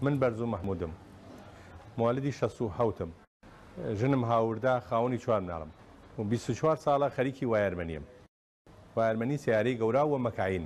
من بەرزوو مەحمودم موالیدی شەست و حەوتم ژنم هاوردا خاوەنی چوار مناڵم و بیست و چوار ساڵە خەریکی وایەرمەنیم وایەرمەنی سەیارەی گەورا و مەکاین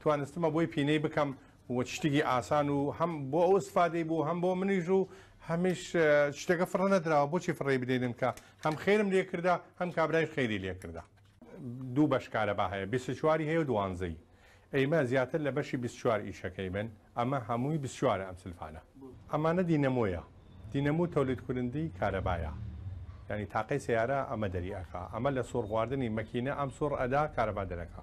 توانستمە بۆی پینەی بکەم و شتیکی ئاسان و هەم بۆ ئەو سفادەی بوو هەم بۆ منیش و هەمیش شتەکە فڕە نەدراوە بۆچی فڕی بدەینن کە هەم خێرم لێکردا هەم کابرای خێری لێکردا دوو بەش کارەبا هەیە بیست چواری هەیە و دوانزەی ئەیمە زیاتر لە بەشی بیست چوار ئیشەکەی من ئەمە هەمووی بیست چوارە ئەم سلفانە ئەمانە دینەمۆیە دینەمو تەولید کورندی کارەبایە یانی تاقەی سەیارە ئەمە دەری ئەکا ئەمە لە سوڕ خواردنی مەکینە ئەم سوڕ ئەدا کارەبا دەرەکا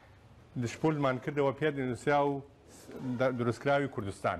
دشپولمان کردەوە پێت نوسراو دروستکراوی کوردستان.